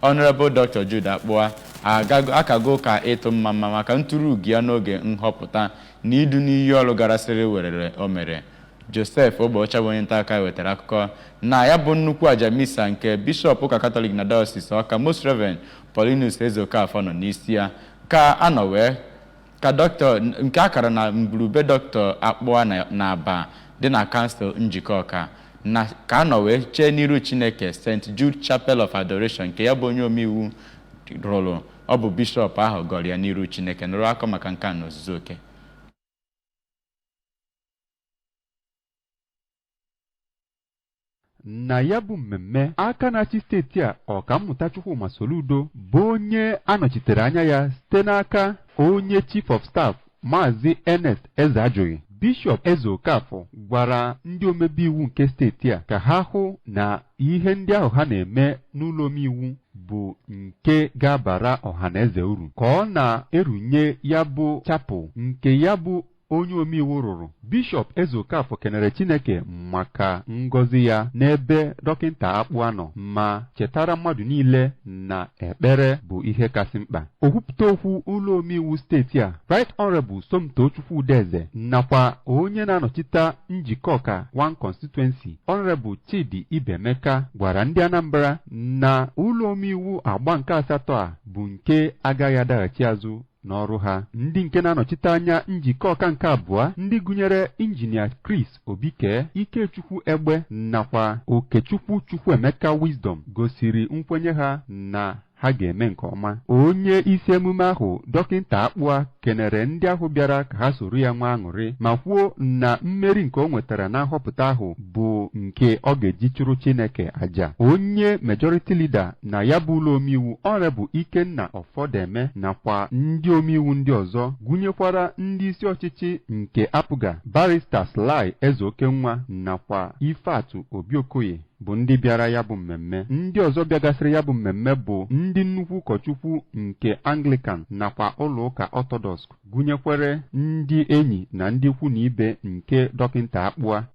Honourable Dr. Jude Akpụa akago ụka ịtụ mma mma maka nturu ugo ya n'oge nhọpụta na idu n'iyi ọrụ garasịrị werere o mere. Joseph Egbeọcha bụ onye nta akụkọ wetara akụkọ na ya bụ nnukwu aja misa nke Bishọp ụka Katọlik na Diocese Ọka Most Reverend Paulinus Ezeokafor nọ n'isi ya ka a nọ wee Ka Dr. nke a kara na ngwuru be Dr. Akpụa na Abba dị na Kansụl Njikọka na ka a nọ wee chee n'iru Chineke St. Jude Chapel of Adoration nke ya bụ onye omeiwu rụrụ. Ọ bụ Bishọp ahụ gọrọ ya n'iru Chineke. Nụrụ akụkọ maka nke a n'ozuzu oke. na ya bụ mmemme aka na-achị steeti a ọkammụta Chukwuma Soludo bụ onye a nọchitere anya ya site n'aka onye chief of staff maazị Ernest Ezeajughị bishọp Ezeokafor gwara ndị omebe iwu nke steeti a ka ha hụ na ihe ndị ahụ ha na-eme n'ụlọ omeiwu bụ nke ga-abara ọha na eze uru ka ọ na-erunye ya bụ chapel nke ya bụ onye omeiwu rụrụ bishọp Ezeokafor kenere Chineke maka ngọzi ya n'ebe dọkịnta Akpụa nọ ma chetara mmadụ niile na ekpere bụ ihe kasị mkpa okwupụta okwu ụlọ omeiwu steeti a Right Honorable Somtochukwu Udeze nakwa onye na-anọchite Njikọka one constituency Honorable Chidi Ibemeka gwara ndị Anambra na ụlọ omeiwu agba nke asatọ a bụ nke agaghị adaghachi azụ n'ọrụ ha ndị nke na-anọchite anya Njikọka nke abụọ ndị gụnyere injinia Chris Obike Ikechukwu Egbe nakwa Okechukwu Chukwuemeka Wisdom gosiri nkwenye ha na ha ga-eme nke ọma onye isi emume ahụ dọkịnta Akpụa kenere ndị ahụ bịara ka ha soro ya nwee aṅụrị ma kwuo na mmeri nke o nwetara na nhọpụta ahụ bụ nke ọ ga-eji chụrụ Chineke aja onye majority leader na ya bụ ụlọ omeiwu Honorable Ikenna Ọfọdeme nakwa ndị omeiwu ndị ọzọ gụnyekwara ndị isi ọchịchị nke APGA Barrister Sly Ezeokenwa nakwa Ifeatụ Obiokoye bụ ndị bịara ya bụ mmemme ndị ọzọ bịagasịrị ya bụ mmemme bụ ndị nnukwu ụkọchukwu nke Anglican nakwa ụlọụka Orthodox gụnyekwere ndị enyi na ndị ikwu na ibe nke dọkịnta Akpụa